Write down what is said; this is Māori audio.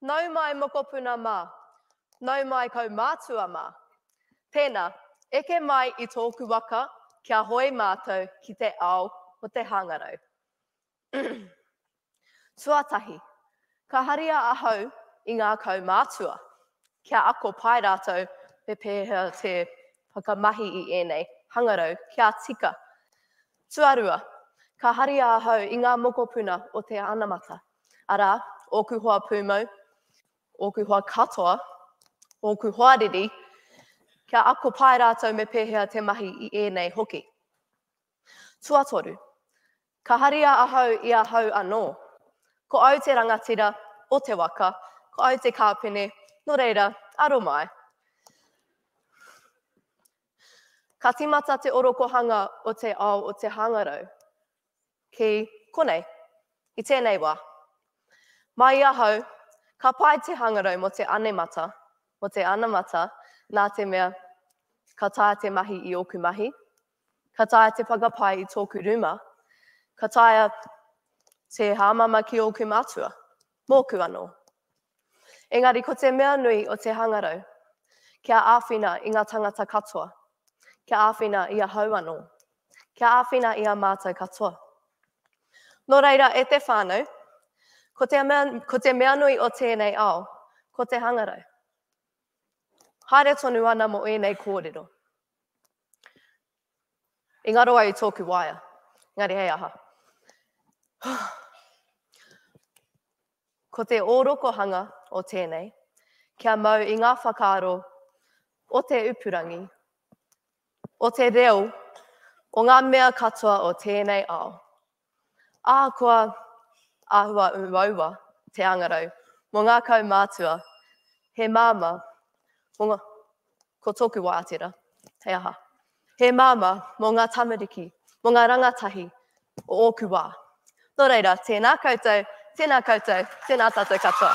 Nau mai mokopuna mā. Nau mai kaumātua mā. Tēnā, eke mai i tōku waka kia hoe mātou ki te ao o te hāngarau. Tuatahi, ka haria ahau i ngā kaumātua, kia ako pai rātou me pēhea te whakamahi i ēnei hangarau kia tika. Tuarua, ka haria ahau i ngā mokopuna o te anamata, arā, ōku hoa pūmau, ōku hoa katoa, ōku hoa riri, kia ako pai rātou me pēhea te mahi i ēnei hoki. Tuatoru, ka haria ahau i ahau anō. Ko au te rangatira o te waka, ko au te kāpene, nō reira, aro mai. Ka tīmata te orokohanga o te ao o te hāngarau. Ki konei, i tēnei wā. Mai i ahau, ka pai te hāngarau mō te anemata, mō te anamata, nā te mea, ka taea te mahi i ōku mahi, Ka taea te whakapae i tōku rūma? Ka taea te hāmama ki ōku mātua? Mōku anō. Engari ko te mea nui o te hangarau, kia āwhina i ngā tangata katoa, kia āwhina i ahau anō, kia āwhina i a mātou katoa. Nō reira, e te whānau, ko te, mea, ko te mea nui o tēnei ao, ko te hangarau. Haere tonu ana mo ēnei kōrero. I ngaro ai i tōku waea. Engari hei aha? Ko te ōrokohanga o tēnei, kia mau i ngā whakaaro o te upurangi, o te reo, o ngā mea katoa o tēnei ao, Ahakoa āhua uaua te angarau mō ngā kaumātua, he māmā, mō ngā, ko tōku wātera, he aha? He māmā mō ngā tamariki, mō ngā rangatahi o ōku wā. Nō reira, tēnā koutou, tēnā koutou, tēnā tātou katoa.